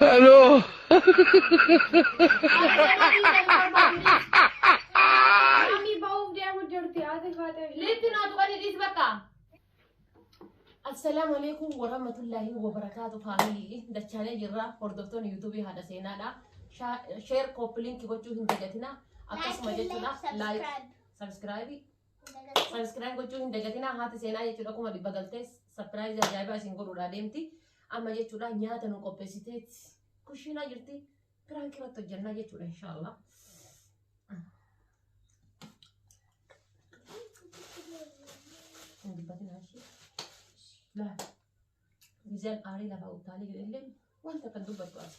Hello. Mami bahuuf deemu jirti haati faatee. Litti naa tuqanii dhiis bakka. Assalaamu alaikum warahmatullahi wabarakaatu faamilii dachaanee jirra hordoftoonni yuutuubii haadha seenaadha. Sheer kooppi linkii gochuu hin dagatina. Akkasuma jechuudha laayik sabiskiraayibii Sabiskiraayib gochuu hin dagatinaa haati seenaa jechuudha kuma dhibba galtee sapiraayizii ajaa'ibaa isin godhuudhaa deemti. Amma jechuudha nyaata nu qopheessitee kushiinaa jirti piraanki irratti hojjannaa jechuudha inshaallah. Hin dubbatinaa ishee. Laa. Gizeen aarii lafaa utaalee jedhe illee wanta kan dubbattu as.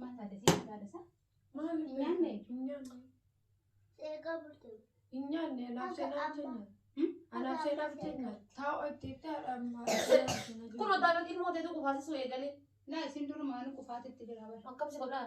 Maata adda sii maata adda isaa. Maal Hin nyaanne? Hin nyaanne. Seeqaa bultee. Hin nyaanne anaaf Akka seenaa amma. jenna. Hmm? Anaaf seenaa jenna. Taa'u itti itti haadha ammaa. Kun otaarratti ilmoo teetu kufaasisuu eegalee. Naa isin durumaanuu qufaatitti jira bara. Akkam si godhaa?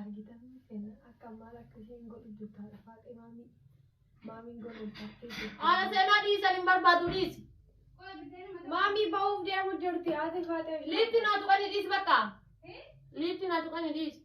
argitan seenaa akka maal akka isheen godhu jirtu haadha faaxee maamii maamiin gololfattee jirti. Haala seenaa dhiisan hin barbaadu dhiisi. Maamii bahuuf deemu jirti haati faaxee. Liifti naa tuqanii dhiisi bakka. Liifti naa tuqanii dhiisi.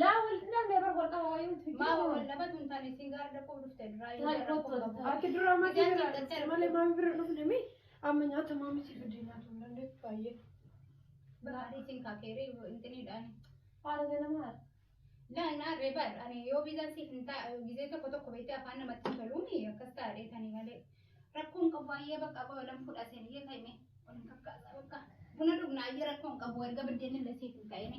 Laa wal dhabnee bar wal dhaba wayii nuti Maama wal fikkii dhabatu hin taane isin gaara dhaquu dhufte duraa hin Taa'e gaara kottu dhaquu Ati duraa matii Ijaarsi biraa dhaqxee dhufte malee maami bira dhufne mi amma nyaata maami si fidee nyaatu hin dandeessu baay'ee. Baadii isin kaakeeree intinii dhaani. Haala ganama haala. Laa hin aarree bar ani yoo biizaan siif hin ta'a gizee tokko tokko beektee afaan namatti hin toluuni akkas taa'ee tanii malee. Rakkoon qabu ayyee bakka qoy olan fudhateen iyyee ka'ime olin kakkaasa bakka buna dhugna ayyee rakkoon qabu erga biddeen illee siif hin ta'ini.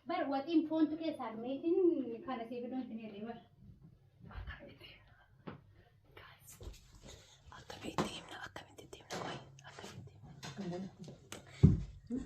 Bar waxiin foontu keessaa dhumeetiin kana siif idoon sin hirree bar. Akkamitti himna akkamitti himna qoy akkamitti himna.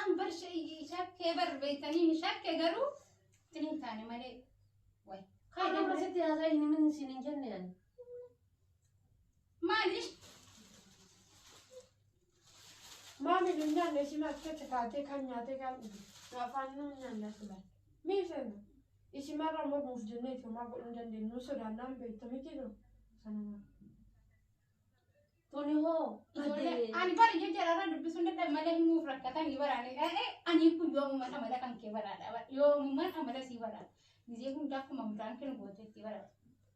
An bar shakkee bar beektanii ni shakke garuu itti hin taane malee. Wayi. Kaan amma sitti haasaa hin himin isin hin jenne ani. Maali? Maami nu nyaanne ishii maaf keessa kaatee kan nyaatee kan dhufe nu afaan nu nyaanne as ilaal. Mii seenna ishii marra ammoo buuf jennee itti homaa godhuu hin dandeenyu nu sodaannaan beektu miti nu sanuma. Tuni hoo Ijoollee badee. ani bara ija jaraarra dubbisuu hin danda'u malee himuuf rakkatanii baraanii dhaqee ani kun yoomuman amala kan kee baraadha yoomuman amala sii baraadha. Gizee hundaa akkuma mudaan kee nu gooteetti baraadha.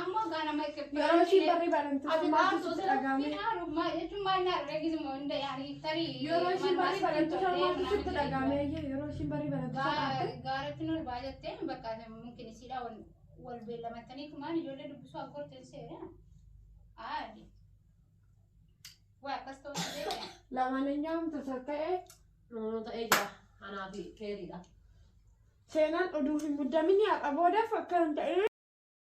Ammoo ganama Yeroo ishii barri baramtu Ati maal baartuu sitti dhaga'ame? Finaaru maal jechuun maal naa dhageessu moo hunda yaanii tarii. Yeroo ishii barri baramtu maaltu sitti dhaga'ame? Eeyyee, Yeroo ishii barri baramtu soqaatte. Gaaratti nu olbaa jettee bakka mungkin isiidhaa wal wal beellamatanii kumaan ijoollee dubbisuu akka horteen seera. Aadi. Waa akkas ta'uu hin beekne. Lamaan hin nyaamtu sokka'ee. Nunu ta'ee jira. Anaa fi keeriidha. Seenaan oduu hin muddaminii har'a boodaaf akka hin ta'e.